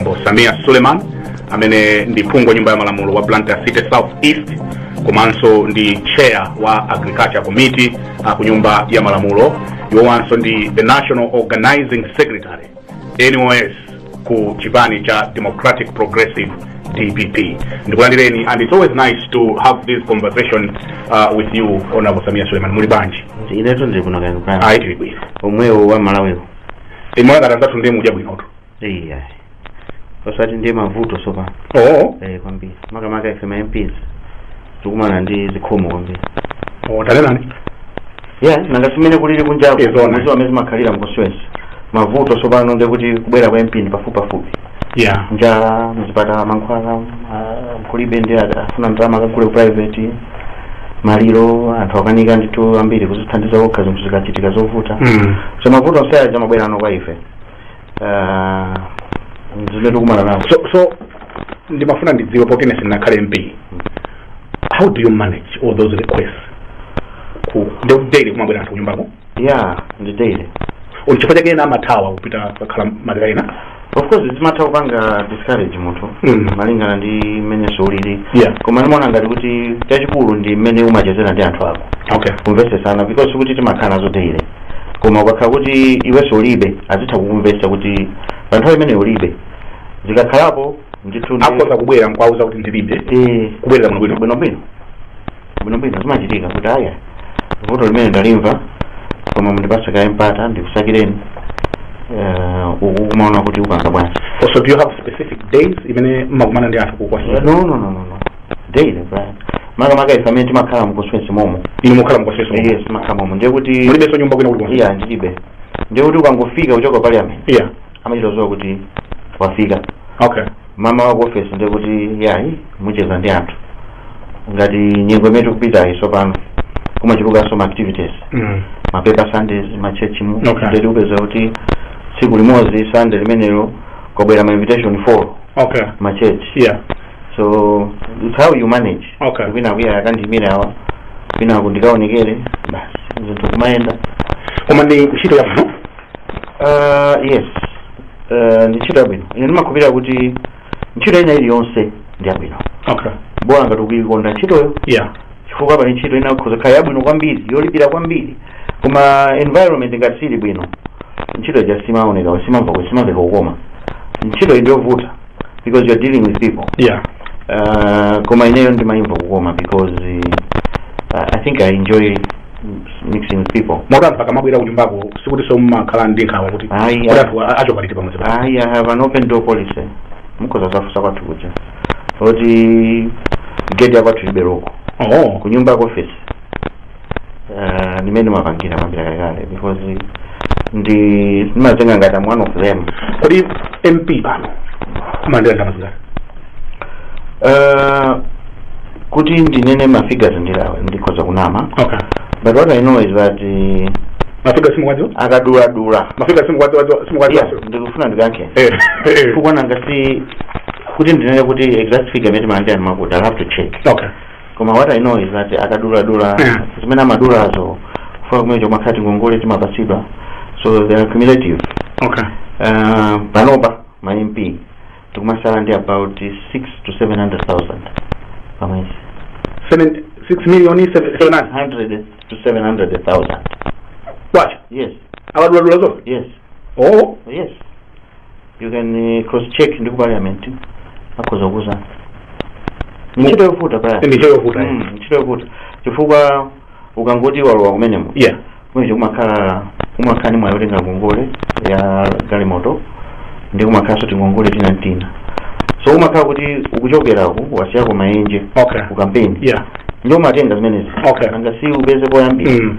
bambo sameer suleiman amene ndi phungu wa nyumba ya malamulo wa blantyre city south east komanso ndi chair wa agriculture committee uh, ku nyumba ya malamulo iwowanso ndi the national organizing secretary nos ku chipani cha democratic progressive dpp ndikulandireni and it's always nice to have this conversation uh, with you honorable sameer suleiman muli bwanji inetu ndiri kuno kaya kumeneko ayi tili bwino omwewo a malawiwo inu ngati anzathu ndiye mukudya bwinotu iya osati ndiye mavuto sopano oo eh kwambiri makamaka ife ma mps tikumana ndi zikhomo kwambiri oo tanenani ya nanga si mmene kulili kunjako Eh, zona. mudziwa amene timakhala mu constituency mavuto sopano ndi kuti kubwera kwa mp ndi pafupipafupi ya njala mzipatala mankhwala ah, kulibe ndi ada- afuna ndalama akagule ku private maliro anthu akanika ndithu ambiri kuzithandiza okha zinthu zikachitika zovuta Mm. so mavuto onse aja amabwera pano kwa ife Ah, zimene tikumana nazo so so ndimafuna ndidziwe poti ine sinakhale mp how do you manage all those requests kodi ndi daily kumabwera anthu kunyumbako ya ndi daily ndi chifukwa chake ena amathawa kupita kakhala madera ena of course zimatha kupanga discourage munthu Mm. malingana ndi mmene zilili Yeah. koma ndimaona ngati kuti chachikulu ndi mmene umachezera ndi anthu ako okay kumvetsesana because kuti timakhala nazo daily koma ukakhala kuti iwenso ulibe azitha kukumvetsa kuti pa nthawi imene ulibe zikakhalapo ndithu ndi- akhoza kubwera nkwauza kuti ndilibe Eh, kubwera bwinobwino bwinobwino bwinobwino zimachitika kuti aya vuto limene ndalimva koma mundipatse kaye mpata ndikusakireni Eh, uku kumaona kuti upanga bwanji also do you have specific days imene mmakumana ndi anthu ku constituency no no no no no daily bwana makamaka ife amene timakhala mu constituency momo inu mukhala mu constituency yes timakhala momo ndiye kuti mulibenso nyumba kwina kuti iya ndilibe ndiye kuti ukangofika kuchoka parliament iya amachita kudziwa kuti wafika okay mmawa ku ofesi ndiye kuti yayi mucheza ndi anthu ngati nyengo imene tikupitayi tsopano kumachulukanso ma activities mm. ma paper sundays ma church mu Okay. nde tikupeza kuti tsiku limodzi sunday limenelo kwabwera ma invitation 4 okay ma church yeah so it's how you manage Okay. kwina uyu akandiyimire awa kwinaku ndikaonekere basi zinthu kumayenda koma ndi ntchito yabwino Ah, yes Ah, ndi ntchito yabwino ine ndimakhulupirira kuti ntchito ina iliyonse ndi yabwino okay bola ngati ukuikonda ntchitoyo yeah chifukwa pali ntchito ina ikhoza kukhala yabwino kwambiri yolipira kwambiri koma environment ngati sili bwino ntchito ija simaoneka simamva kuti simamveka kukoma ntchito iyi ndiyovuta because you're dealing with people yeah uh, koma ineyo ndimayimva kukoma because uh, i think i enjoy mixing with people moti anthu akamabwera kunyumbako sikuti so ndimakhala ndi nkhawa kuti Ayi, kuti ayi. anthu a- achoka liti pamudzi pa ayi i have an open door policy mukhoza kuzafunsa kwathu kuja kuti gate yakwathu ilibe loko oh kunyumba ku office uh, ndi mmene ndimapangira kuyambira kalekale because ndi ndimazitenga ngati am one of them kodi mp pano mumalandira ndalama zingati uh, kuti ndinene mafigures ndilawe ndikhoza kunama okay but what i know is that uh, mafigures simukuwadziwa akaduladula mafigures simukuwadziwa simukuwadziwa Yeah, ndikufuna ndikacheke eh eh chifukwa nanga si kuti ndinene kuti exact figure imene timalandira ndimakuti i have to check okay koma what i know is that akaduladula Yeah. zimene amadulazo chifukwa kumeneko kumakhala tingongole timapatsidwa so they are cumulative okay uh, panopa ma mp tikumatsala ndi about 6 to 700000 pamwezi Seven, six million seven, seven nine 100 to 700000 kwacha yes akaduladula zonse yes oh yes you can eh, cross check ndi ku parliament akhoza kukuuzani ntchito yovuta pa Ndi ntchito yovuta, eh. Mm, ntchito yovuta chifukwa ukangoti walowa kumenemo yeah kumeneko kumakhala kumakhala ni mwayi otenga ngongole ya galimoto ndi kumakhalanso tingongole tina tina so umakhala kuti ukuchokerako wasiyako maenje okay ku kampeni yeah ndiye umatenga zimenezi Okay. nanga si upeze poyambira mm.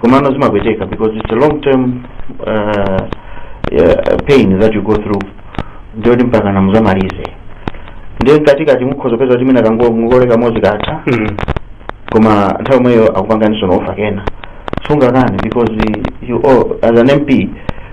komano zimapweteka because it's a long term uh, uh, pain that you go through ndi yoti mpakana muzamalize ndiye mkatikati mukhoza kupeza kuti mwina kangongole kamodzi katha Mm. koma nthawi yomweyo akupanganinso offer kena sungakani because you all, as an mp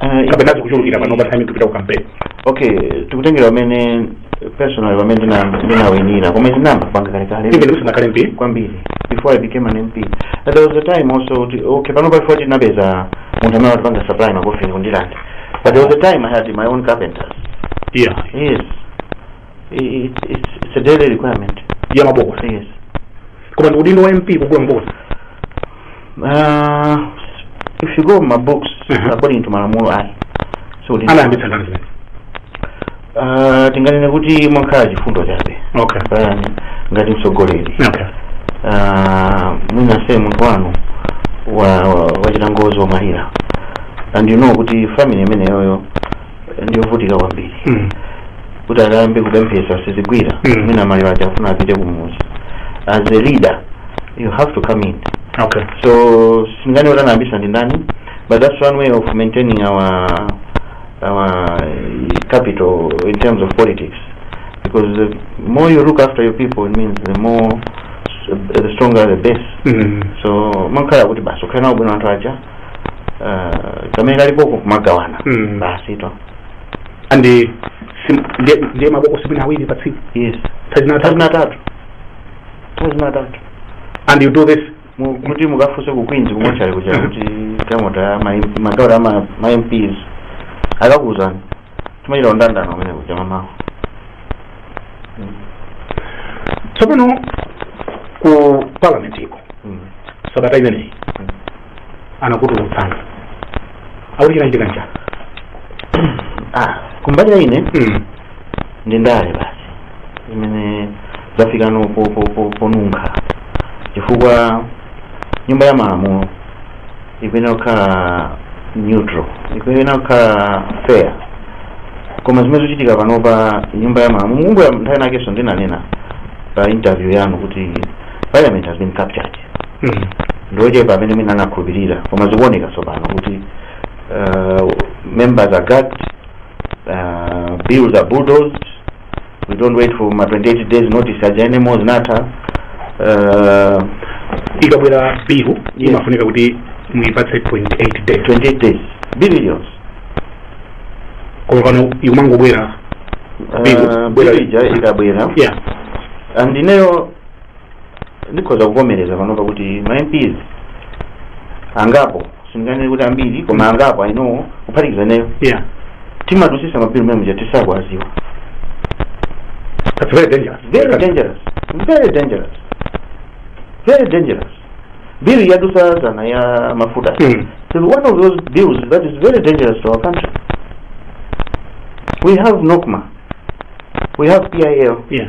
Ah, kapena zikuchulukira pano pa time tikupita ku campaign okay tikutengera pamene personal pamene ndina- ndinawinira koma ndinayamba kupanga kalekale even musanakhale mp kwambiri before i became an mp and there was a time also kuti- okay pano bola chifukwa ndinapeza munthu amene amatipanga supply makofini kundilanda but there was a time i had my own carpenters yeah yes I- it's, it's, it's a daily requirement ya mabokosi yes koma ndi udindo wa mp kugula mabokosi uh, if you go by books Mhm. according to malamulo ayi so ndi- anayambitsa ndani zimene uh, tinganene kuti mwangokhala chifundo chabe okay pa ine ngati mtsogoleri okay uh, mwinanso munthu wanu wa, wa, wachita ngozi wamwalira and you know kuti family imeneyoyo ndiyovutika kwambiri Mm. kuti akayambe kupemphesa sizigwira Mm. mwina maliro aja afuna apite kumudzi as a leader you have to come in okay so sindingayambe kunena kuti ndi ndani but that's one way of maintaining our our eh, capital in terms of politics because the more you look after your people it means the more the stronger the base Mm. so umakhala kuti basi ukhala nawo bwino anthu aja eh, kamene kalipo kumagawana Mm. basi to and eh, sim- ndiye- ndiye mabokosi mwina awiri pa tsiku yes nthawi zina atatu nthawi zina atatu nthawi zina atatu and you do this Mu- kuti mukafunse ku queens kumotchale kuja kuti kamota ya ma- magalimoto ya ma- ma mps akakuwuzani timachita ndandanda m'mene kuja m'mamawa tsopano ku parliament iko Mm. sabata imeneyi Mm. anakutulutsana akuti chinachitika nchani ah kumbali ya ine Mm. ndi ndale basi imene zafikano po- po- po- ponunkha chifukwa nyumba ya malamulo ikuyenera kukhala neutral ikuyenera kukhala fair koma zimene zikuchitika panopa nyumba ya malamulo mukumbukira nthawi inakenso ndinanena pa interview yanu kuti parliament has been captured Mm. ndiochepa amene mwina anakhulupirira koma zikuoneka tsopano kuti uh, members are gagged uh, bills are bulldozed we don't wait for ma 28 days notice aja anymore zinatha uh, ikabwera bill Yes. imafunika kuti muipatse 28 days 28 days billions koma pano ikumangobwera Bill, uh, bwera- bilija ikabwera yeah and ineyo ndikhoza kuvomereza panopa kuti ma mps angapo sindinganene kuti ambiri koma angapo ainowo kuphatikiza nayo yeah timadusisa mabiri mene muja tisakuaziwa that's very dangerous very dangerous very dangerous very dangerous bill yadusa zana ya mafuta Mm. so one of those bills that is very dangerous to our country we have nocma we have pil yeah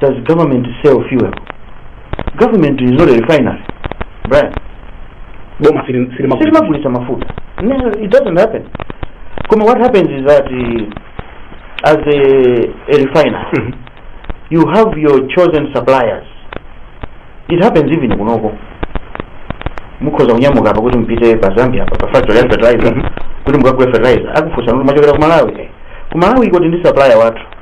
does government sell fuel government is not a refinery brian boma sili- silimagulitsa. silimagulitsa mafuta no, it doesn't happen koma what happens is that uh, as a, a refinery Mhm. you have your chosen suppliers it happens even kunoko mukhoza kunyamuka apa kuti mupite pa zambia apa pa factory ya fertilizer Mhm. kuti mukagule fertilizer akufunsani kuti mwachokera ku malawi ku malawi kuli ndi supplier wathu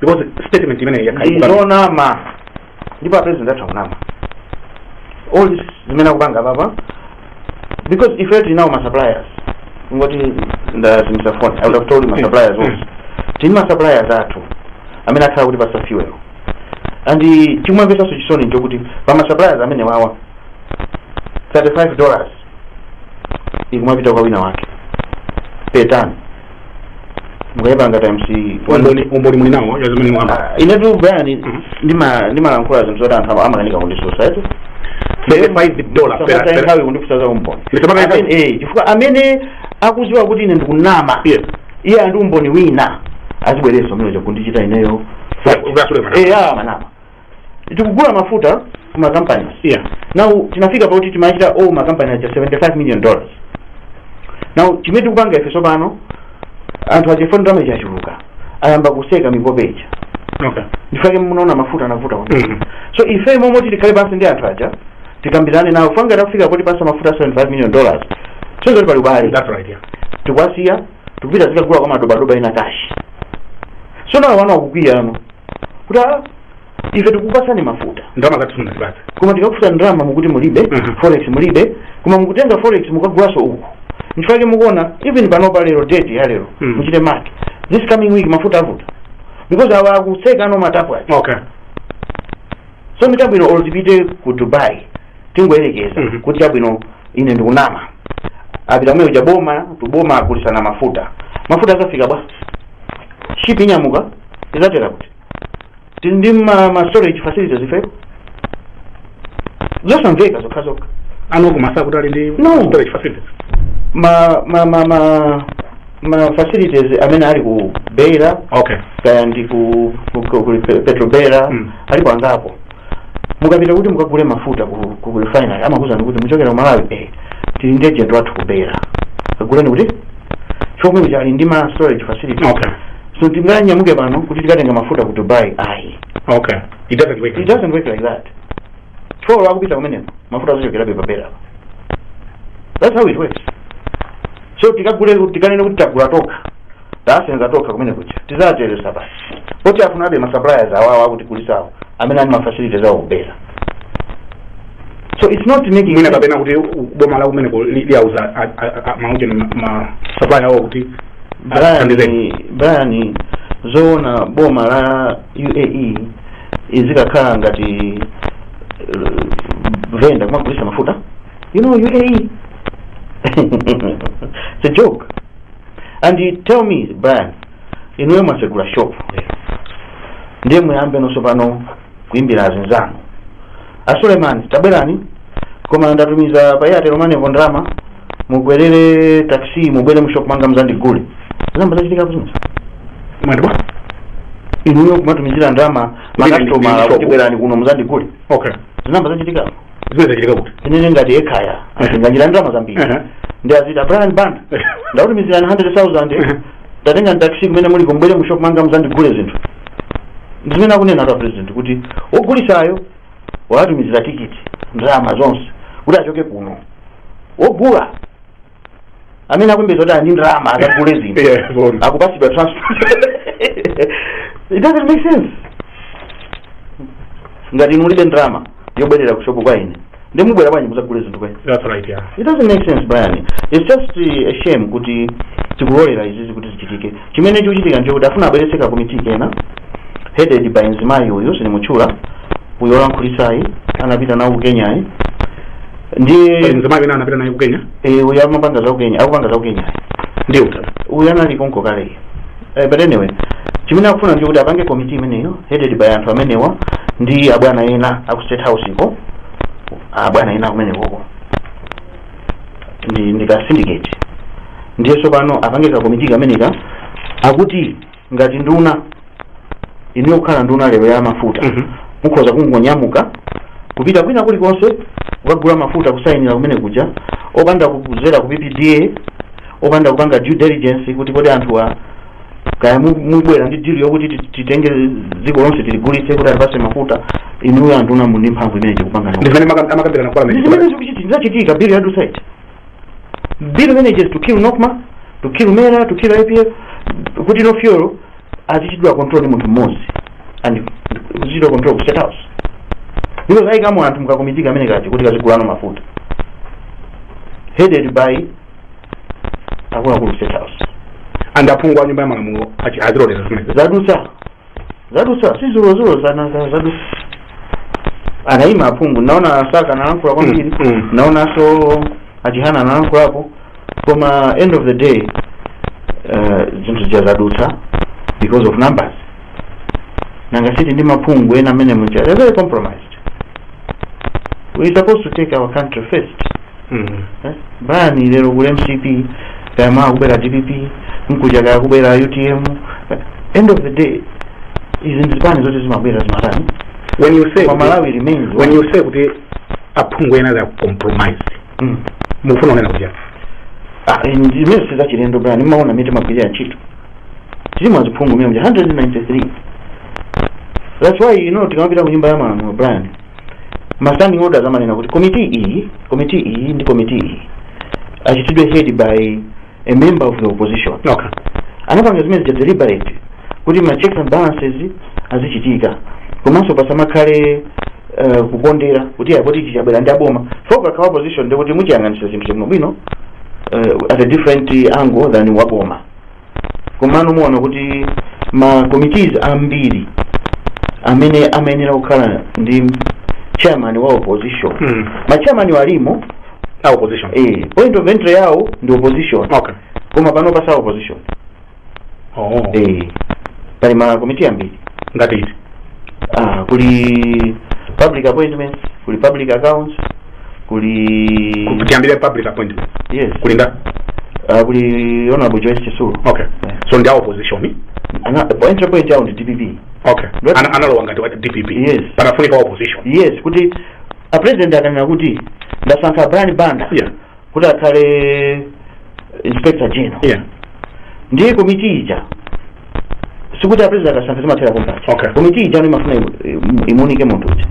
because statement imeneyi ndi yakhala ikuka- zonama ndipo a president akunama all this zimene akupanga apapa because ife tili nawo masuppliers kungoti ndazimitsa phone i would have told you masuppliers onse tili ndi masuppliers athu amene akhala akutipatsa fuel and chikumvetsanso chisoni nchokuti pa masuppliers amenewawa 35 dollars ikumapita kwa wina wake pitani mukayipanga times umboni umboni muli nawo wa zimene mwakamba Ah, inetu brian ndima- ndimalankhula zinthu zoti anthu ama- amakanika kunditsutsa eti 35 dollar per- Musamataye per- nthawi kundifunsa za umboni Ndisamataye nthawi? Amene- eh, chifukwa amene akudziwa kuti ine ndikunama Yes. iye ali ndi umboni wina azibweranso m'mene ndikuchitira ineyo Akatsutse mwanama. Eh, awa mwanama tikugula mafuta ku makampani yeah. now tinafika pakuti timachita owe makampani aja 75 million dollars now chimene tikupanga ife tsopano anthu aja aona ndalama zachuluka ayamba kuseka mipope ija okay. nchifukwa chake munaona mafuta anavuta kwambiri Mhm. so ife mmalo moti tikhale pansi ndi anthu aja tikambirane nawo mpaka takufika poti atipatsa mafuta 75 million dollars kusonyeza kuti pali ubale that's right yeah. tikwasiya tikupita zikagula kwa madobadoba ina kashi so nawo wana akukwiya ano kuti "Ah, ife tikupatsani mafuta ndalama zathu simunatipatse koma tikakufunsani ndalama mukuti mulibe Mhm. forex mulibe koma mukutenga forex mukagulanso uku nchifukwa chake mukuona even panopa lero date ya lero Mhm. muchite mark this coming week mafuta avuta because awa akutseka ano matapu ake okay so ndiye chabwino olo tipite ku dubai tingoyerekeza Mhm. kuti chabwino ine ndikunama apita komweko kuja boma to boma agulisana mafuta mafuta azafika bwa ship inyamuka izatera kuti tili ndi ma storage facilities ifepo zosamveka zokha zokha anthu kumadziwa kuti ali ndi No. storage facilities ma ma ma ma ma facilities amene ali ku beira okay kaya ndi ku, ku, ku, ku petrobeira Mm. alipo angapo mukapita kuti mukagule mafuta ku, ku refinery amakuuzani kuti muchokera ku malawi eh, tili ndi agent wathu ku beira kaguleni kuti chifukwa choti ali ndi ma storage facilities Okay. so tinganyamuke pano kuti tikatenga mafuta ku dubai ayi okay it doesn't work it doesn't work like that chifukwa olo akupita kumeneko mafuta azochokerabe pa beira that's how it works so tikagule tikanene kuti tagula tokha tasenza tokha kumeneko kuja tizatereza basi pa port tifunabe ma suppliers awawa akutigulisawo amene ali ma facilities awo ku beira so it's not making mwina sense. kapena kuti u- boma la kumeneko li- liyauza a- a- a- maujeni ma- ma supplier awo kuti athandizeniko. Brian, Brian zoona boma la UAE izikakhala ngati uh, venda kumagulisa mafuta you know UAE it's a joke and tell me brian inuyo mwasegula shop lero ndiye muyambenso pano kuimbira azinzanu asulemani tabwerani koma ndatumiza pa airtel moneypo ndalama mubwerere taxi mubwere mushop mwanga mzandigule zinayamba zachitika ku business mwati bwa inuyo kumatumizira ndalama makastoma kuti bwerani kuno mzandigule okay zinayamba zachitikapo zimene zikuchitika kuti tinene ngati ekhaya Ehe. inachita ndalama zambiri Ehe. ndiye aziti brian banda Ehe. ndakutumizirani 100000 Ehe. tatengani taxi kumene muliko mubwere mu shop mwanga muzandigule zinthu ndi zimene akunena a president kuti wogulisayo wawatumizira tikiti ndalama zonse kuti achoke kuno wogula amene akumapeza kuti ali ndi ndalama akagule zinthu Yeah, sorry. akupatsidwa transport it doesn't make sense ngati inu mulibe ndalama yobwerera ku shopu kwa ine nde mubwera bwanji mudzagule zinthu kwa ine That's right, yeah. it doesn't make sense brian it's just uh, a shame kuti tikulolera izizi kuti zichitike Chimene chikuchitika nchoti afuna abweretse ka committee kena headed by mzimayi uyu sindimutchula uyu olankhulitsayi anapita nawo ku Kenyayu ndi pali mzimayi wina anapita naye ku Kenya eh, uyu amapanga za ku Kenya akupanga za ku Kenyayu ndiye utatu uyu anali konko kale eh, but anyway chimene akufuna nchoti apange committee imeneyo headed by anthu amenewa ndi abwana ena aku state house ko abwana ena kumenekoko ndi ndi ka syndicate ndiye tsopano apange kakomiti kameneka akuti ngati nduna inuyo kukhala nduna lero ya mafuta Mhm. mukhoza kungonyamuka kupita kwina kulikonse kukagula mafuta kusayinira kumene kuja opanda kudzera ku ppda opanda kupanga due diligence kuti kodi anthuwa kaya mu- mubwera ndi deal yokuti ti- titenge dziko lonse tiligulitse kuti atipatse mafuta inuyo anduna muli ndi mphamvu imene tikupanga ndi zimene amaka- amakambirana kwa amene zimene zikuchitika zachitika bili yadutsa bill manages to kill nocma to kill mera to kill ipf kuti now fuel azichitidwa control ndi munthu mmodzi and kuzichitidwa control ku state house because ayikamo anthu mkakomiti kamene kaja kuti kazigula no mafuta headed by akuluakulu state house and aphungu a nyumba ya malamulo achi- aziloleza zimene zadutsa zadutsa si dzulodzulo zananga zadutsa anayima aphungu ndinaona asaka analankhula kwambiri Mm, mm. ndinaonanso achihana analankhulapo koma end of the day eh, zinthu zija zadutsa because of numbers nanga siti ndi aphungu ena amene muja they're very compromised we supposed to take our country first brian lero kuli mcp kaya mawa kubwera dpp mkucha kaya kubwera utm end of the day izi ndi zipani zoti zimabwera zimapita when you say kwa malawi remains when you say kuti aphungu ena ali compromised Mm. mufuna unena kuti Ah, in- zimene sizachilendo brian timaona mmene timagwirira ntchito tili ma aphungu mmene muja 193 that's why you know tikamapita ku nyumba ya malamulo brian ma standing orders amanena kuti komiti iyi komiti iyi ndi komiti iyi achitidwe headed by a member of the opposition okay anapanga zimene zija deliberate kuti ma checks and balances azichitika komanso pasamakhale uh, kukondera kuti ayi poti ichi chabwera ndi aboma poti akakhala opposition ndiye kuti muchiyang'anira chinthu bwinobwino uh, at a different angle than waboma komano muona kuti ma committees ambiri amene amayenera kukhala ndi chairman wa opposition Mm. ma chairman wo alimo a opposition eh, point of entry yawo ndi opposition okay koma panopa si a opposition oh eh, pali ma committee ambiri ngati iti ah, kuli public appointments kuli public accounts kuli Ku- tiyambire public appointment yes kuli nda Ah, kuli honorable joyce chitsulo okay so ndi a opposition Ana- pa entry point yawo ndi dpp okay Not- Ana- analowa ngati wa dpp Yes. panafunika wa opposition yes kuti a president akanena kuti ndasankha brian banda yeah kuti akhale inspector general yeah ndiye komiti ija sikuti a president akasankha zimathera pompaja Okay. komiti ija ano imafuna imu- imu- imuunike munthu uja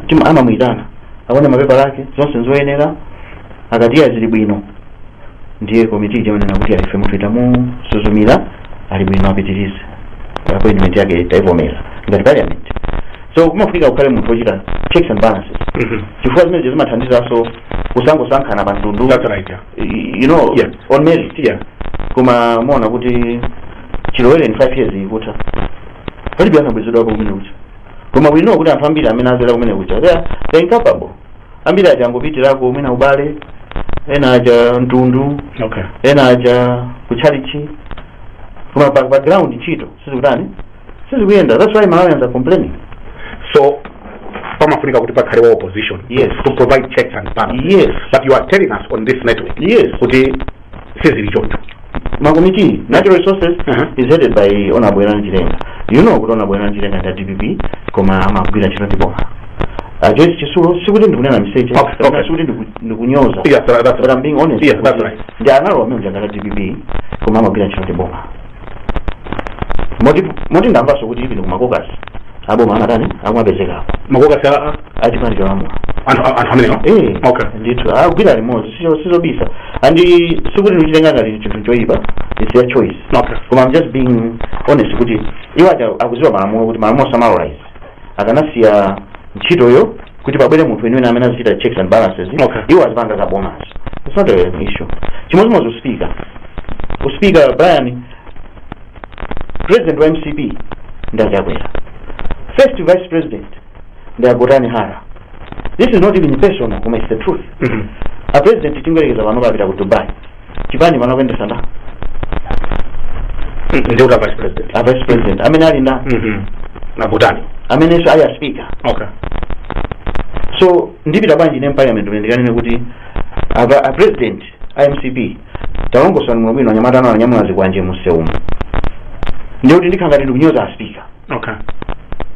Chim- amamuyitana aone mapepala ake zonse nzoyenera akati eya zili bwino ndiye komiti ija imanena kuti ife munthuyu tamusuzumira ali bwino apitirize appointment yake taivomera ngati parliament so kumafunika kukhale munthu wochita checks and balances Mhm. chifukwa zimenezo zimathandizanso kusangosankhana pa mtundu That's right, yeah. y- you know Yeah. on merit Yeah. koma muona kuti chilowereni 5 years ikutha palibe anabwezedwapo kumene kuja koma we know kuti anthu ambiri amene azera kumene kuja they are they are incapable ambiri aja angopitirako mwina ubale ena aja mtundu okay ena aja kutchalichi koma pa, pa ground ntchito sizikutani sizikuyenda that's why malawians are complaining so pamafunika kuti pakhale wa opposition Yes. to provide checks and balances Yes. but you are telling us on this network Yes. kuti sizili choncho makomiti natural resources uh -huh. is headed by honorable Werani Chilenga you know kuti honorable Werani Chilenga ndi a DPP koma amagwira ntchito ndi boma Joyce Chitsulo sikuti ndikunena miseche sikuti ndikunyoza but I'm being honest ndi analowa mmene muja ngati a DPP koma amagwira ntchito ndi boma moti moti ndamvanso kuti even ku ma caucus aboma amatani akumapezekako ma caucus a a- achipani cholamula anthu a- anthu amenewa Eh, okay ndithu agwira limodzi sizo- sizobisa and sikuti ndikuchitenga ngati chinthu choyipa its their choice okay koma I'm just being honest kuti iwo aja akuziwa malamulo kuti malamulo samalola izi akanasiya ntchitoyo kuti pabwere munthu weniweni amene azichita checks and balances Okay. iwo azipanga za boma it's not an issue chimodzimodzi uspika uspika brian president wa mcp ndi a chakwera first vice president ndi a gotani hara this is not even personal koma it's the truth Mhm. a president tingoyerekeza panopa apita ku dubai chipani pano akuyendesa nda ndi a vice president a vice president amene ali nda Mhm. a Gotani amenenso ali a speaker okay so ndipita bwanji ne parliament mene ndikanene kuti a president a mcp talongosolani bwino anyamata anu anyamula zikwanje mumsewumu ndiye kuti ndikhala ngati ndikunyoza a speaker okay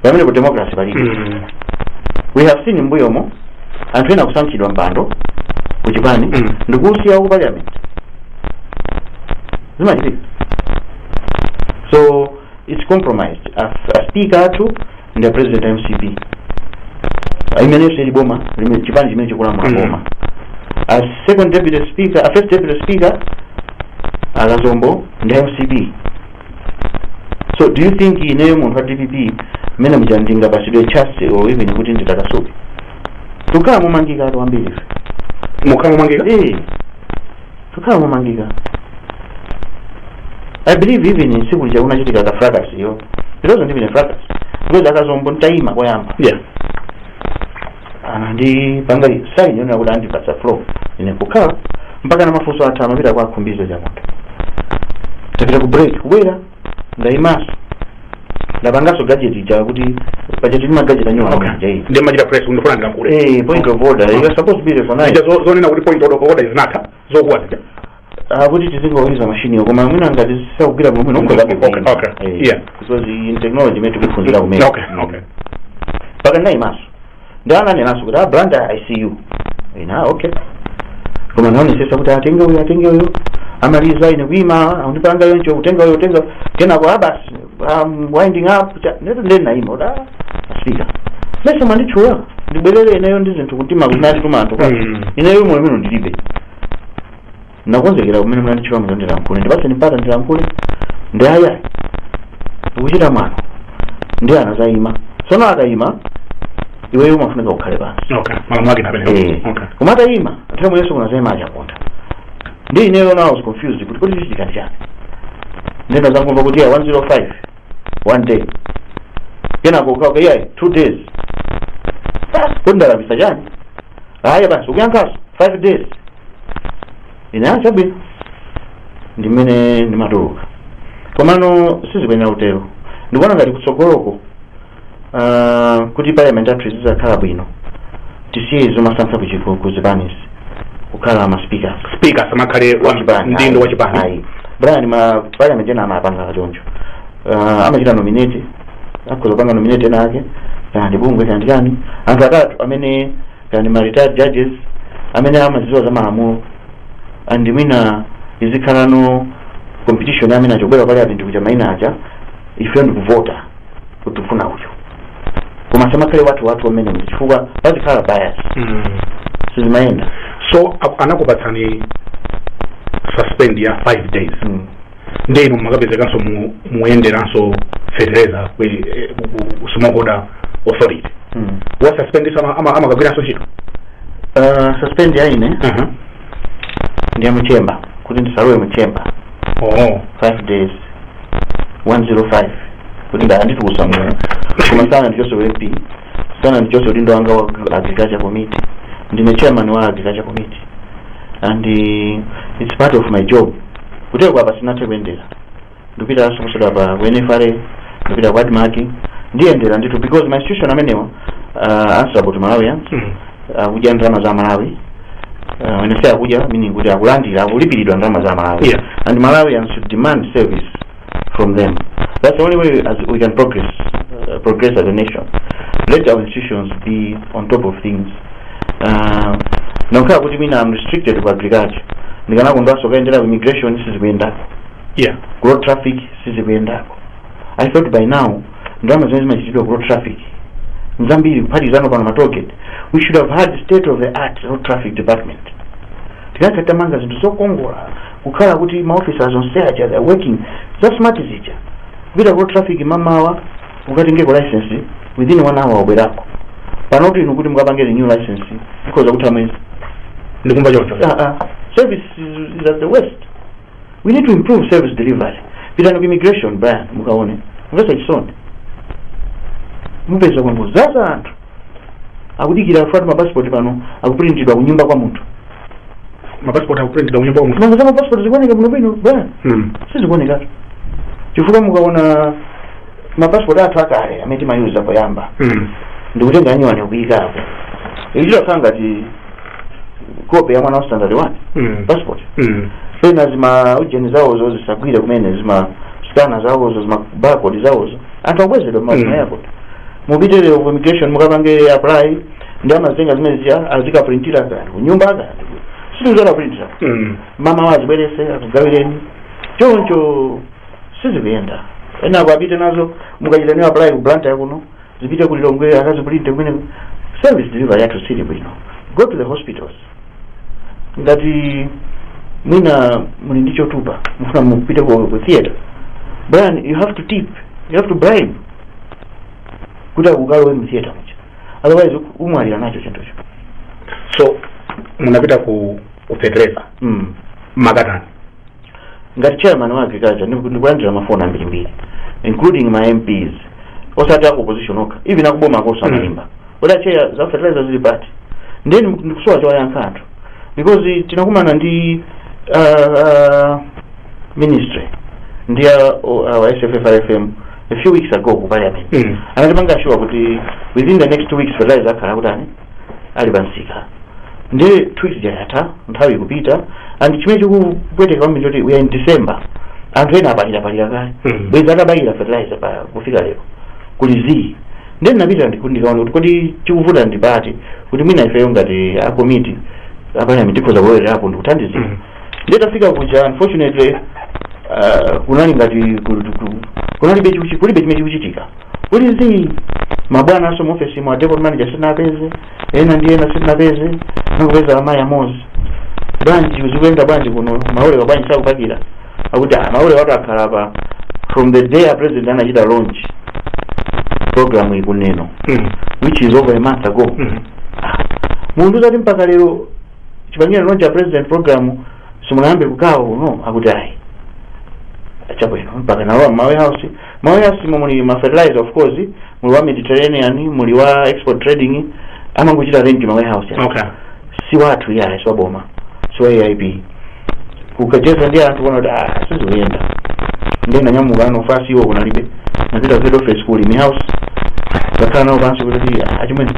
pamene ku democracy palibe mm. we have seen m'mbuyomo anthu ena akusankhidwa mpando ku chipani Mm. ndikusiya ku parliament zimachitika so its compromised Af- aspika athu ndi apresident a mcp imenenso ili boma limene- chipani chimene chikulamula Mm. boma a second deputy speaker a first deputy speaker akazombo ndi a mcp so do you think ineyo munthu wa dpp mmene muja ndingapatsidwe chance or even kuti nditakasuke tukhala momangika athu ambiri ife mukhala momangika Eh, tukhala momangika i believe even tsiku lija kunachitika ka fracas yo it wasn't even a fracas because akazombo ntayima koyamba yeah anandipangira saini yonena kuti andipatsa floor ine kukhala mpaka na mafunso atha amapita kwa akhumbize chandamwale tapita ku break kubwera ndayimaso ndapangaso gadget ija kuti paja tili ndi magadget anyuwani Okay. anja iyi Ndiye umachita press ukafuna ndilankhule. eh point of order you are supposed to be recognized Ija zo- zonena kuti point of order izinatha. zokwanira Ah, kuti tizingoyuza mashiniwo koma mwina ngati sakugwira bwino bwino umakhoza Okay, kuvina. okay, Eh, yeah. because ndi technology imene tikuphunzira kumene okay okay mpaka ndinayimanso ndi ananenanso kuti a banda i see you ina okay koma ndinaonesesa kuti atenge uyo atenge uyo amalize ine kuima akundipanga yoncho kutenga uyo kutenga kenako a basi I'm winding up ta- ndati nde ndinaima kuti ah, asipika mesa mwanditchula ndibwerere ineyo ndi zinthu kuti makuti tuma talker Mm. ineyo mwayi umene ndilibe nakonzekera kumene munanditchula muja ndilankhule ndipatse mpata ndilankhule ndi aya ukuchita mwano nde anadzayima tsono akayima iweyo umafunika ukhale pansi okay malamulo ake Eh. napene okay koma atayima nthawi yomweyonso kunadzayima achaponda ndiye ineyo now i was confused kuti kodi chichitika ndi chani nde ndazangomva kuti ya 105 one day kenako ukayankha iyayi two days basi kodi ndalakwitsa chani aya basi ukuyankhaso five days ine ah chabwino ndi mmene ndimatuluka komano sizikuyenera kutero ndikuona ngati kutsogoloko uh, kuti parliament yathu izizakhala bwino tisiye zomasankha kuchiku ku zipanizi kukhala ma speakers speaker asamakhale wa Wachipani, mdindo ayi, wa chipani ayi. brian ma parliament ena amapanga choncho uh, amachita nominate akhoza kupanga nominate ena ake kana ndi bungwe kana ndi chani anthu atatu amene kana ndi ma retired judges amene amazidziwa za malamulo and mwina izikhalano competition amene achobwera pali apa ndikutcha maina aja ife ndikuvota kuti tifuna uyo koma asamakhale wathu wathu ameneyu chifukwa pazikhala bias Mm. sizimayenda so a- anakupatsani suspend ya 5 days mm. nde inu mumakapezekanso mu- muyenderanso fertilizer ku- eh, ku- ku- ku smallholder authority mm. wa suspendinso amakagwiranso ntchito uh, suspend ya ine Aha. ndi ya mu chamber kuti ndisalowe mu chamber oh. 5 days 105 kuti nde anditulutsa mu koma sanandichotse u MP sanandichotse udindo wanga wa agriculture committee ndine chairman wa agriculture committee and uh, it's part of my job kuteroko apa sinathe kuyendera ndipitanso posachedwapa ku nfra ndipita ku admarc ndiyendera ndithu because ma institution amenewa are answerable to malawians akudya ndalama za malawi uh, when I say akudya meaning kuti akulandira akulipiridwa ndalama za malawi Yeah. and malawians should demand service from them that's the only way as we can progress uh, progress as a nation let our institutions be on top of things uh, kungokhala kuti ine I'm restricted ku agriculture ndikanakondwanso kukayendera ku immigration sizikuyendako yeah ku road traffic sizikuyendako i thought by now ndalama zimene zimachitidwa ku road traffic nzambiri kuphatikizano pano ma tollgate we should have had state of the art road traffic department tikanakhala titamanga zinthu zokongola kukhala kuti ma officers onse aja they are working za smart zija kupita ku road traffic mamawa ukatengeko license within one hour ubwerako panotu inu kuti mukapange renew license ikhoza kutha mwezi ndikumva choncho Ah, ah. service is, is at the worst we need to improve service delivery pitani ku immigration Brian mukaone zomvetsa chisoni mupeza kwangodzadza anthu akudikira akuti mapasipoti pano akupulintidwa kunyumba kwa munthu mapasipoti akupulintidwa kunyumba kwa munthu nanga za mapasipoti zikuoneka bwino bwino Brian Hmm. sizikuoneka chifukwa mukaona mapasipoti athu akale amene timayuza poyamba Hmm. ndikutenga anyuwani kuika apo ichita kukhala ngati kope ya mwana wa standard one Mm. passport Mm. pena ma ujeni zawozo zisagwire kumene ma scanner zawozo ma barcode zawozo anthu abwezedwa Mm. mazina yako mupite lero ku immigration mukapange apply ndiye amazitenga zimene zija azikaprintira kaya kunyumba kaya sizizona printira Mm. mawa azibwerese akugawireni choncho sizikuyenda ena akapite nazo mukachitaninso apply ku branch yakuno zipite ku lilongwe akaziprinte kumeneko service delivery yathu siili bwino go to the hospitals ngati mwina muli ndi chotupa mufuna mupite ku ku theater bwana you have to tip you have to bribe kuti akukalowetseni mu theater muja otherwise umwalira nacho chinthucho so munapita ku ku fetereza mm. makatani ngati chairman wa agriculture ndiku- ndikulandira mafoni ambirimbiri including ma mps osati aku opposition okha even akuboma akonso Mm. amaimba kuti a chair za fertilizer zili pati ndiye ndiku- ndikusowa chowayankha anthu because tinakumana ndi uh, uh, ministry ndi uh, uh, sffrfm a few weeks ago ku parliament Mm. anatipanga assure kuti within the next two weeks fertilizer akhala akutani ali pa msika ndiye two weeks ija yatha nthawi ikupita and chimene chikupweteka kwambiri n'choti we are in december anthu ena apalirapalira kale Mhm. bwezi atabayira fertilizer pa kufika lero kuli zii ndiye ndinapita ndi- ndikaone kuti kodi chikuvuta ndi pati kuti mwina ifeyo ngati akomiti apaliyamenti tikhoza kulowererapo ndikuthandizira Mhm. nditafika kuja unfortunately uh, kunali ngati kul- kul- kunalibe chikuchi- kulibe chimene chikuchitika kuli zii mabwananso muofesi mwa depot manager sitinapeze ena ndi ena sitinapeze nangopeza amayi amozi bwanji zikuenda bwanji kuno ma lorry-wa bwanji sakupakira akuti "Ah, ma lorry-watu akhala apa from the day a president anachita launch programuyi kuno Mhm. which is over a month ago Mhm. mukundiuza kuti mpaka lero chipangire launch a president program simunayambe kugawa kuno akuti ayi chabwino mpaka nalowa ma warehouse ma warehouse mo muli ma fertilizer of course muli wa mediterranean muli wa export trading amangochita rent ma warehouse okay si wathu yaye si waboma si wa aip kukacheza ndi anthu kuona kuti ah sizikuyenda ndiye nanyamuka mabwanawo kunalibe napita ku head office ku chilimi house kakhala nawo pansi kuti "Ah, achimwene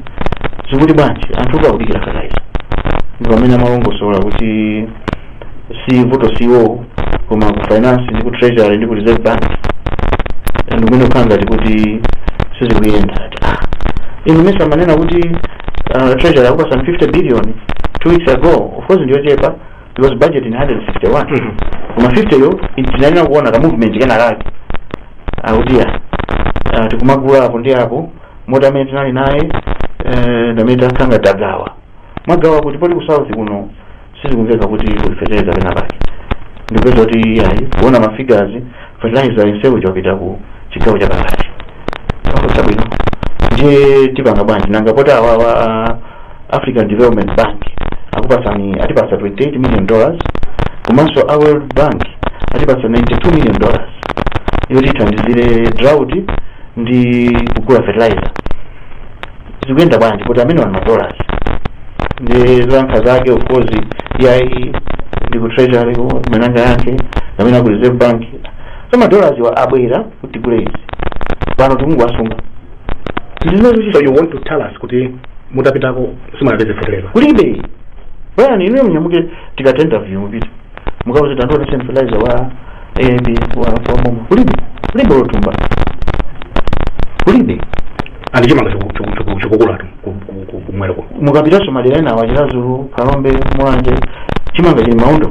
zikuyenda bwanji anthu akudikira fertilizer ndi pamene amalongosola kuti vuto si iwowo koma ku finance ndi ku treasury ndi ku reserve bank ndi kumene kukukhala ngati kuti sizikuyenda ati ah inu mesa amanena kuti uh, treasury akupasani 50 billion two weeks ago of course ndiyochepa because budget ndi 161 koma 50 yo tinayenera kuona ka movement kena kake akuti ya ah, tikumagula apo ndi apo moti amene tinali naye eh, ndi amene takhala tagawa magawa kuti poti ku south kuno sizikumveka kuti kuli fertilizer pena pake ndipeza kuti ayi kuona ma figures fertilizer yense uja wapita ku chigawo cha pakati ofatsa bwino ndiye tipanga bwanji nanga poti awawa a african development bank akupasani atipasa 28 million dollars komanso a world bank atipasa 92 million dollars yoti ithandizire drought ndi kugula fertilizer zikuyenda bwanji kuti amenewa ndi madollars ndi zoyankha zake of course iyayi ndi ku treasury ko kumene angayankhe kapena ku reserve bank so madollars wa abwera kuti tigule izi pano tikungowasunga ndi zimenezo so you want to tell us kuti mutapitako simunapeze fertilizer kulibe bwana inuyo mnyamuke tikatha interview mupita mukauze tandiona sen fertilizer wa aip wa wa boma kulibe kulibe lotumba kulibe and chimanga chikukulatu kumwera kuno mukapitanso madera enawa chiradzulu phalombe mulanje chimanga chili m'maondo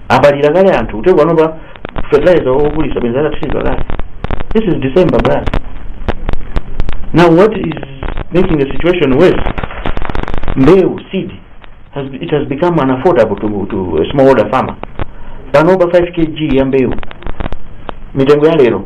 apalira kale anthu kuti panopa fertilizer okulitsa bwenzi atathiridwa kale this is december bra now what is making the situation worse mbewu seed has, it has become unaffordable to, to a smallholder farmer panopa 5 kg ya mbewu mitengo ya lero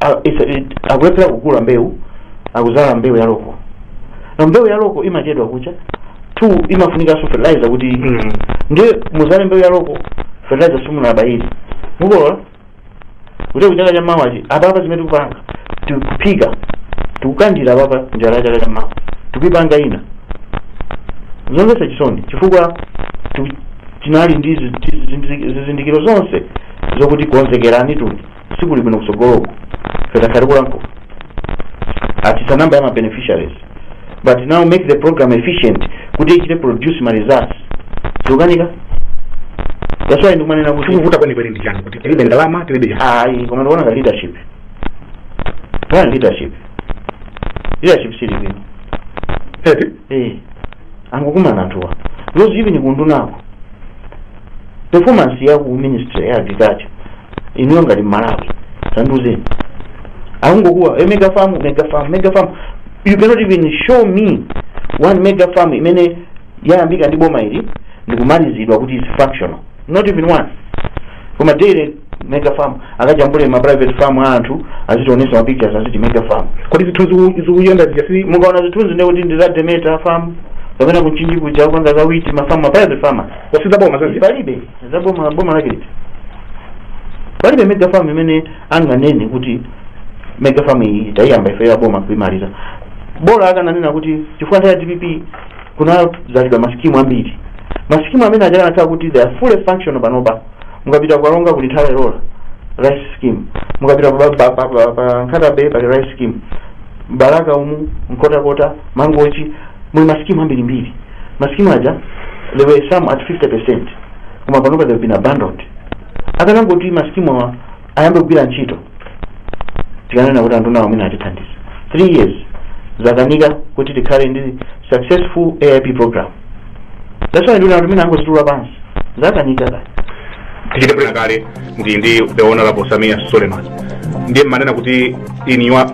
A- ife- it- akulephera kugula mbewu akudzala mbewu ya loko na mbewu ya loko imachedwa kucha two imafunikanso fertilizer kuti Mm. ndiye mudzale mbewu ya loko fertilizer simunabayire mukolola kuti kuchaka cha mawa chi apapa zimene tikupanga tikuphika tikukandira apapa njala ya chaka cha mawa tikuipanga ndi zomvetsa chisoni chifukwa tiku- tinali ndi zi- zi- zi- zizindikiro zonse zokuti konzekerani tuli sikuli bwino kusogoloku ife takhala tikulankhula atsitsa namba ya ma beneficiaries but now make the program efficient kuti ichite produce ma results zikukanika that's why ndikumanena kuti chikuvuta kwenikweni ndi chani kuti tilibe ndalama tilibe chani ayi koma ndikuona ka leadership one leadership leadership sili bwino eti eh angokumana anthuwa because even kundunako performance ya ku ministry ya agriculture iniyo ngati malawi tanduzeni akungokuwa e mega farm mega farm mega farm you cannot even show me one mega farm imene yayambika ndi boma ili ndikumalizidwa kuti is functional not even one koma daily mega farm akajambule ma private farm a anthu azitionetsa ma pictures aziti mega farm kodi zithunzi ziku- zikuyenda zija si mukaona zithunzi ndi kuti ndi za demeter farm kapena ku mchinji kuja kupanga za wheat ma farm ma private farmers osati za boma zija palibe za boma boma lake liti palibe mega farm imene anganene kuti mega farm iyi tayiyamba ife ya boma kuimaliza bola akananena kuti chifukwa nthawi ya dpp kunadzalidwa masikimu ambiri masikimu amene aja anakhala kuti they are fully functional panopa mukapita kukalonga kuli Hara Wovwe rice scheme mukapita pa- pa- pa- pa- pa nkhata bay pali rice scheme mbalaka umu nkhotakota mangochi muli masikimu ambirimbiri masikimu aja they were some at 50 percent koma panopa they've been abandoned akanangokuti masikimu awa ayambe kugwira ntchito tikananena kuti andunawo mwina atithandiza 3 years zakanika kuti tikhale ndi successful aip program that's why nduna nati mwina angozitula pansi zakanika kaye tichite pena pake ndi ndi the honorable sameer suleman ndiye mmanena kuti in your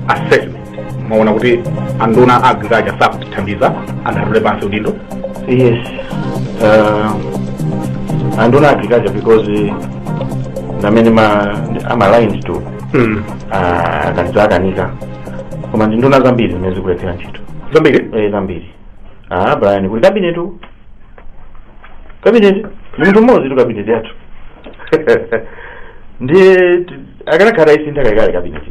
assessment mwaona kuti anduna a agriculture sakutithandiza ndiye atule pansi udindo yes uh, anduna agriculture because ndi amene i'm aligned to mm. uh, kaya zakanika koma ndi nduna zambiri zimene zikulephera ntchito zambiri eh, zambiri ah brian kuli kabineti uku kabineti ndi munthu mmodzi tu kabineti yathu ndiye t- akanakhala atayisintha kalekale kabineti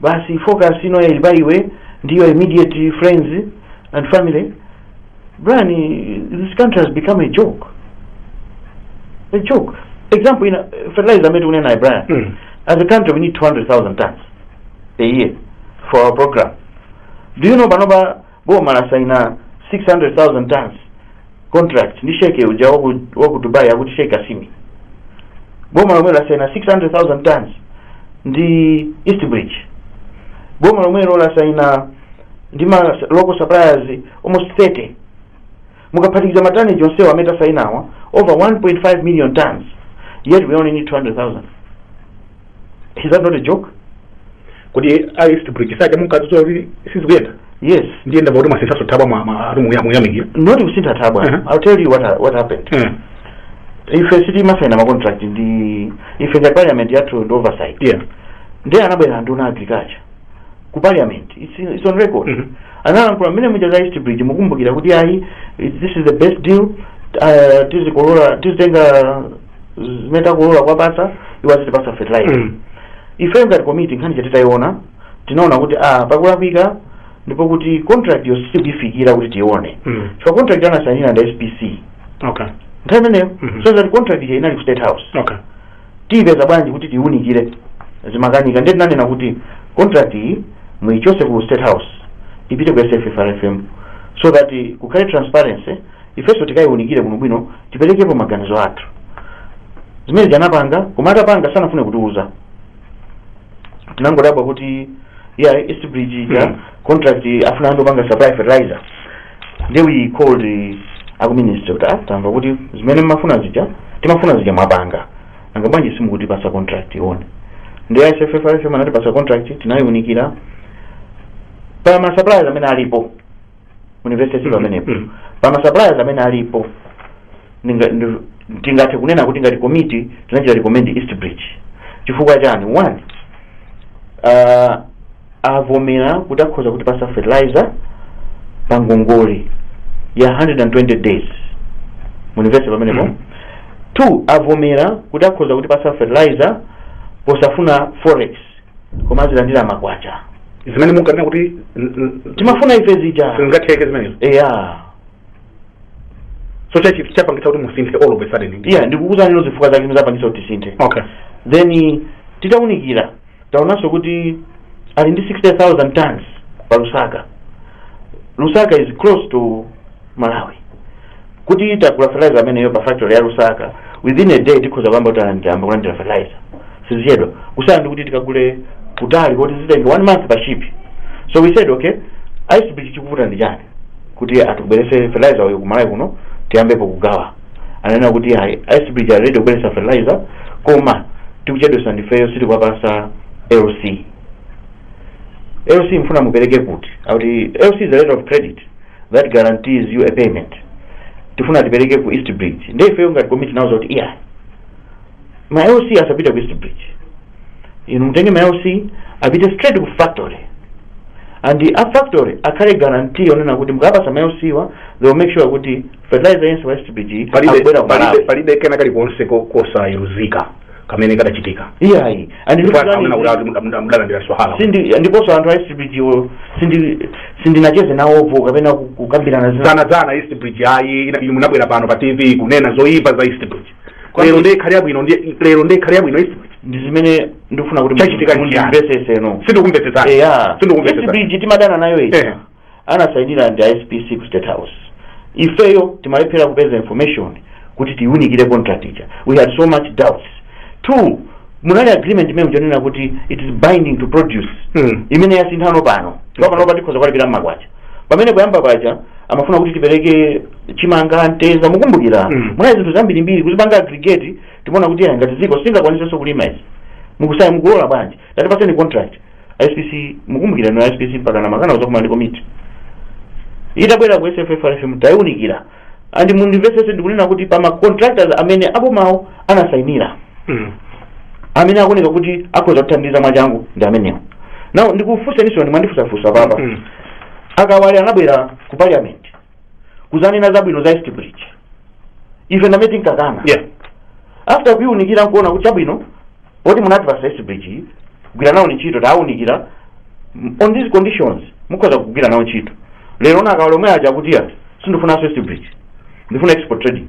basi focus ino ili pa iwe ndi your immediate friends and family Brian this country has become a joke a joke example ina fertilizer amene tikunena naye Brian Mm. as a country we need 200,000 tons a year for our program do you know panopa boma lasaina 600,000 tons contract ndi sheke uja waku, waku dubai akuti sheke kasimi boma lomwelo lasaina 600,000 tons ndi east bridge boma lomwelo lasaina ndi ma local suppliers almost 30 Mukaphatikiza ma tonnage onsewa amene tasainawa over 1.5 million tons yet we only need 200,000. Is that not a joke? kodi East Bridge si aja munkadzudzula kuti sizikuyenda Yes. ndiye ndamva kuti mwasinthanso thabwa mwa- mwa- ati muya- muyamikira Not kusintha thabwa. Mhm. I'll tell you what, ha- what happened. Mm. Ife sitimasaina ma contract ife ngati parliament yathu ndi oversight. yeah Ndiye anabwera nduna agriculture. ku parliament it's, it's on record Mhm. analankhula mmene muja za east bridge mukumbukira kuti ayi it- this is the best deal uh, tizikolola tizitenga zimene takolola kwapasa iwo azitipasa fertilizer Mm. ife ngati komiti nkhani ija titayiona tinaona kuti ah pakulakwika ndipo kuti contract yo sitikuifikira kuti tiyione Mm. chifukwa contract anasainira ndi spc Okay. nthawi imeneyo Mhm. so that contract ija inali ku state house Okay. tiipeza bwanji kuti tiiunikire zimakanika ndiye tinanena kuti contract iyi muichose ku state house ipite ku sffrfm so that eh, kukhale transparency ifenso tikaiunikire bwinobwino tiperekepo maganizo athu zimene anapanga koma atapanga sanafune kutiuza tinangodabwa kuti ya east bridge ija Mm. contract afuna anthu opanga supply fertilizer nde we called eh, aku ministry kuti ah tamva kuti zimene mmafuna zija timafuna zija mwapanga nanga bwanji simukutipasa contract tiione nde sffrfm anatipasa contract tinayiunikira pa ma suppliers amene alipo university Mm, pamenepo mm. pa ma suppliers amene alipo Ndinga- ndi- tingathe kunena kuti ngati komiti tinachita recommend east bridge chifukwa chani one uh, avomera kuti akhoza kutipasa fertilizer pa ngongole ya 120 days mundimvese pamenepo Mm. two avomera kuti akhoza kutipasa fertilizer posafuna forex koma azilandira makwacha zimene munkanena kuti n- n- timafuna ife zija zingatheke zimenezo eya so cha- chapangitsa kuti musinthe all of a sudden ndi yeah ndikukuuzanino zifukwa zake zapangitsa kuti tisinthe okay then titaunikira taonanso kuti ali ndi 60000 tons pa lusaka lusaka is close to malawi kuti titagula fertilizer ameneyo pa factory ya lusaka within a day tikhoza kuyamba kuti anandiyamba kulandira fertilizer sizichedwa kusiyana ndi kuti tikagule kutali koti zitenge one month pa ship so we said okay east bridge chikuvuta ndi chani kuti atibweretsere fertilizer uyu ku Malawi kuno tiyambepo kugawa ananena kuti ayi east bridge ali ready kubweretsa fertilizer koma tikuchedwetsa ndifeyo sitikuwapasa LC LC mfuna mupereke kuti awuti LC is a letter of credit that guarantees you a payment tifuna tipereke ku East Bridge ndiye ifeyo ngati komiti nawauza kuti iyayi ma LC asapite ku East Bridge inu mutenge ma LC apite straight ku factory and a factory akhale guarantee onena kuti mukaapasa ma LC wa they will make sure kuti fertilizer yense wa East Bridge palibe akubwera ku palibe Malawi palibe kena kali konse ko- kosayenerezeka kamene kadachitika iyayi and Ndipo ndikuti- amene akuti ati muda- muda- mudalandira swala Sindi- ndiponso anthu a East Bridge wo sindi- sindinacheze nawopo kapena ku- kukambirana zina za- za- za east bridge ayi ina- inu munabwera pano pa tv kunena zoyipa za east bridge Kwambiri. lero nde yakhala yabwino ndi- lero nde yakhala yabwino East Bridge ndi zimene ndikufuna kuti Chachitika ndi chiyani? mundimvesese no sindikumvetsetsa eya sindikumvetsetsa East Bridge timadana nayo ija Eh. anasayinira ndi SPC ku state house ifeyo timalephera kupeza information kuti tiunikire contract ija we had so much doubts two munali agreement imene ija yonena kuti it is binding to produce Mm. imene yasinthano pano chifukwa pano patikhoza kuwalipira mmakwacha pamene poyamba paja amafuna kuti tipereke chimanga mtedza mukumbukira Mm. munali zinthu zambirimbiri kuzipanga aggregate timaona kuti "Ah, ngati dziko sitingakwanitsenso kulima izi mukusayina mukulola bwanji tatipaseni contract spc mukumbukira no spc mpaka nkumakana kuzakumana ndi komiti itabwera ku sffrfm tayiunikira and mundimvetsetse ndikunena kuti pa ma contractors amene abomawo anasainira Mm. amene akuoneka kuti akhoza kuthandiza mwachangu ndi amenewo now ndikufunseniso mwandifunsafunsa apapa Mm. a Kawale anabwera ku parliament kuzanena zabwino za east bridge ife ndamene tinkakana Yeah. after kuiunikira nkuona kuti chabwino poti munati pa East Bridge kugwira nawo ntchito tawunikira m- on these conditions mukhoza kugwira nawo ntchito lero ona akawale omwe aja kuti ya sindifuna East Bridge ndifuna export trading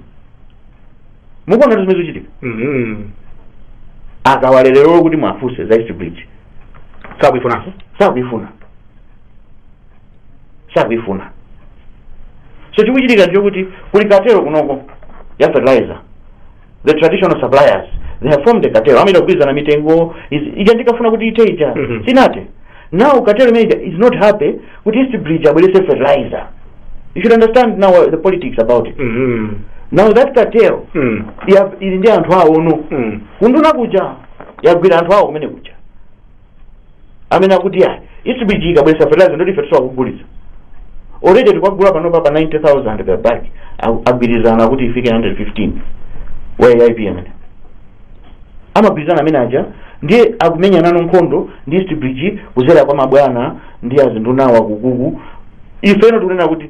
mukuona zimene zikuchitika Mhm. akawale lero kuti mwafunse za East Bridge sakuifunanso sakuifuna sakuifuna so chikuchitika ndicho kuti kuli katero kunoko ya fertilizer the traditional suppliers they have formed a cartel amene amagwirizana mitengo izi- ija ndikafuna kuti iteija Mhm. sinate now cartel imene ija is not happy kuti east bridge abweretse fertilizer you should understand now uh, the politics about it Mhm. now that cartel Mm. ya- ili ndi anthu awo no Mm. kunduna kuja yagwira anthu awo kumene kuja amene akuti ya East Bridge ikabweretsa fertilizer ndoti ife tizakugulitsa already tikagula panopa pa 90000 per bag Aku- agwirizana kuti ifike 115 wa aip amene amagwirizana amene aja ndiye akumenyana no nkhondo ndi East Bridge kudzera kwa mabwana ndi azindunawa kukuku ifeno tikunena kuti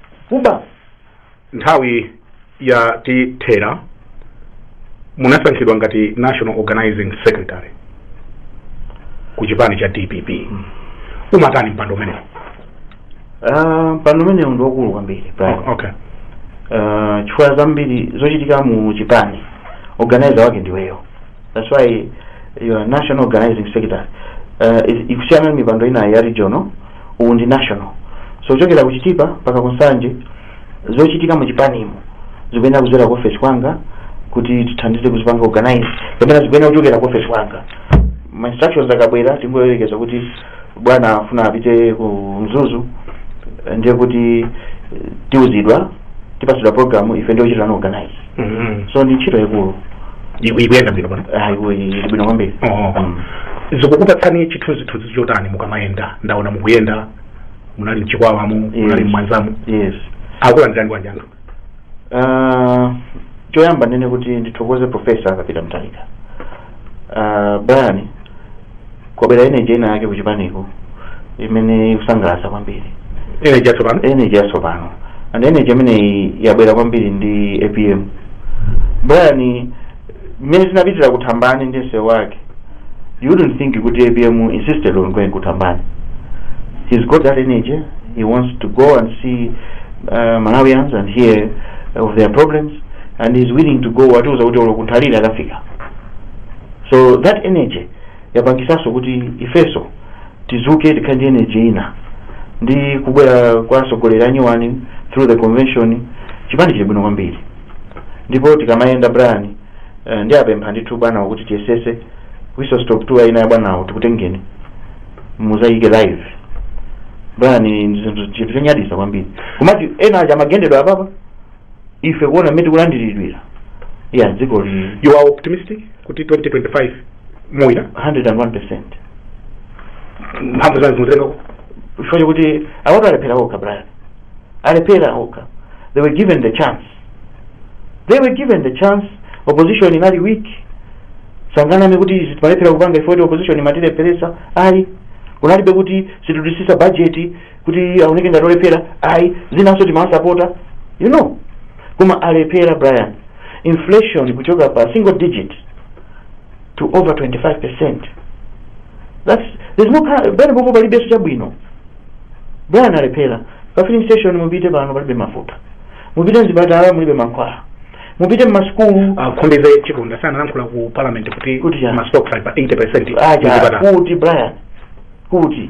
kuba nthawi yatithera munasankhidwa ngati national organizing secretary ku chipani cha dpp umatani mpando umenewo Ah, mpando umenewo ndi wakulu kwambiri Brian okay Ah, chifukwa zambiri zochitika mu chipani organizer wake ndiweyo That's why you're national organizing secretary uh, is- kusiyana ndi mipando ina ya regional uwu ndi national so kuchokera ku chitipa mpaka ku nsanje zochitika mu chipanimu zikuyenera kudzera ku office kwanga kuti tithandize kuzipanga organize kapena zikuyenera kuchokera ku office kwanga ma instructions akabwera tingoyerekeza kuti bwana afuna apite ku mzuzu ndiye kuti eh, tiuzidwa tipatsidwa program ife ndi ochitira no organize Mhm. so ndi ntchito yaikulu Iku- ikuyenda bwino bwino Ah, iku- ili bwino kwambiri Oh. Mm. zikukupatsani chithunzithunzi chotani mukamayenda ndaona mukuyenda munali mchikwawamo munali Yes. mmwanzamo yes akulandirani bwanji anthu Ah, choyamba ndinene kuti ndithokoze profesa Arthur Peter Mutharika uh, Brian kwabwera energy ina yake kuchipaniko imene ikusangalatsa kwambiri ine chatsopano energy yatsopano and energy imeneyi yabwera kwambiri ndi apm Brian mmene tinapitira kuthambani ndi msewu wake you wouldn't think kuti apm insisted on going kuthambani he's got that energy he wants to go and see uh, malawians and hear of their problems and he's willing to go watiuza kuti olo kunthalira akafika so that energy yapangisanso kuti ifenso tizuke tikhale ndi energy ina ndi kubwera kwa atsogoleri anyuwani through the convention chipani chili bwino kwambiri ndipo tikamayenda brian uh, ndiapempha ndithu bwanawo kuti tiyesese whistle stop tour ina ya bwanawo tikutengeni muzayike live brian ndi zinthu chinthu chonyaditsa kwambiri kumati ena aja amagendedwa apapa ife kuona mmene tikulandiridwira yeah dziko lili you are optimistic kuti 2025 muwina 101 percent mphamvu zanu zikuchokera pati chifukwa chakuti awatu alephera okha brian alephera okha they were given the chance they were given the chance opposition inali weak sanganame kuti izi timalephera kupanga ife poti opposition imatilepheretsa ayi kunalibe kuti sitidutsitsa budget kuti aoneke ngati olephera ayi zinanso timawasapota you know koma alephera brian inflation kuchoka pa single digit to over 25 percent that's there's no kind- penepo palibenso chabwino brian alephera pa filling station mupite pano palibe mafuta mupite mzipatala mulibe mankhwala mupite mmasukulu a Kandodo Chiponda sanalankhula ku parliament kuti kuti ya ma stocks ali pa 80 percent aja kuti brian kuti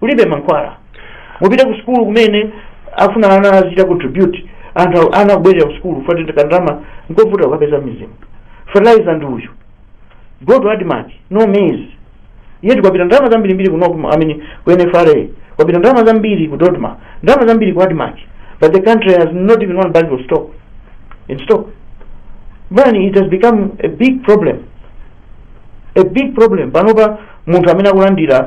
kulibe mankhwala mupite ku sukulu kumene afuna ana azichita contribute anthu ana akubwerera ku sukulu kandalama nkovuta kukapeza mizimu fertilizer ndi uyu go to admarc no maize yet kwapita ndalama zambirimbiri ku Nocma, I mean, ku nfra kwapita ndalama zambiri ku dodma ndalama zambiri ku admarc but the country has not even one bag of stock in stock but it has become a big problem a big problem panopa munthu amene akulandira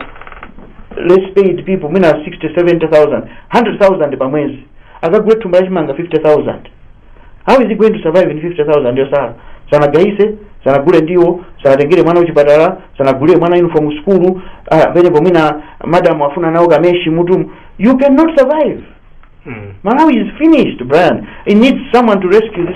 less paid people mwina 60 70000 100000 pa mwezi akagule thumba lachimanga 50000 how is he going to survive in 50000 yosala sanagayise sanagule ndiwo sanatengere mwana kuchipatala sanagulire mwana uniform sukulu ah, penepo mwina madam afuna nawo kameshi m'mutumu you cannot survive Mm. malawi is finished brian it needs someone to rescue this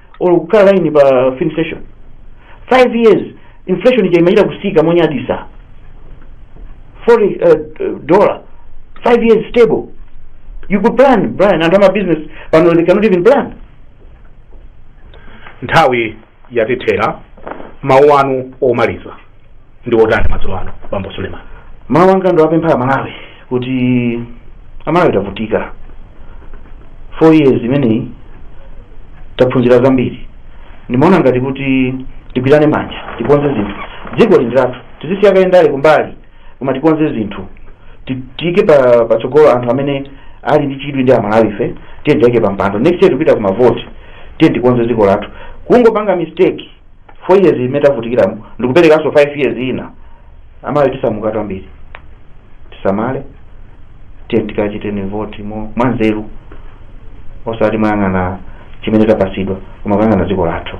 olo kukhala line pa filling station 5 years inflation ija imachita kutsika monyaditsa foreign uh, uh, dollar 5 years stable you could plan brian anthu amabusiness pano they cannot even plan nthawi yatithera mawu anu omaliza ndi otani madzulo ano bambo suleman mawu anga ndiwapemphe amalawi kuti amalawi tavutika four years imeneyi taphunzira zambiri ndimaona ngati kuti tigwirane manja tikonze zinthu dziko lino lathu tizisiye kaye ndale kumbali koma tikonze zinthu Ti- tiike patsogolo anthu amene ali ndi chidwi ndi amalawi fe tiye tiike pa mpando next year tipita ku mavoti tiye tikonze dziko lathu kungopanga mistake 4 years imene tavutikiramo ndikuperekanso 5 years ina aMalawi tisamuka tambiri tisamale tiyeni tikachiteni voti mwanzeru osati mwayang'ana chimene tapasidwa koma kuyang'ana dziko lathu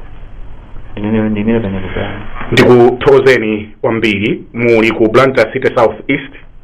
ndimene ndiimire panyakudani ndikuthokozeni kwambiri muli ku blantyre city south east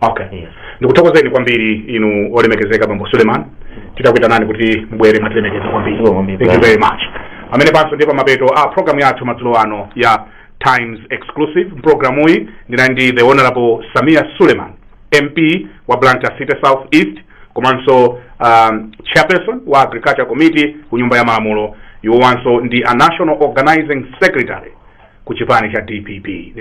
okay yes. ndikuthokozeni kwambiri inu olemekezeka bambo suleiman titakuitanani kuti mubwere mwatilemekeza kwambiri Sure, kwambiri. thank you very much pamenepanso ndiye pamapeto a programu yathu madzulo ano ya times exclusive mu programuyi ndinali ndi the honorable sameer suleiman mp wa blantyre city south east komanso um, chairperson wa agriculture committee ku nyumba ya malamulo iwowanso ndi a national organizing secretary ku chipani cha dpp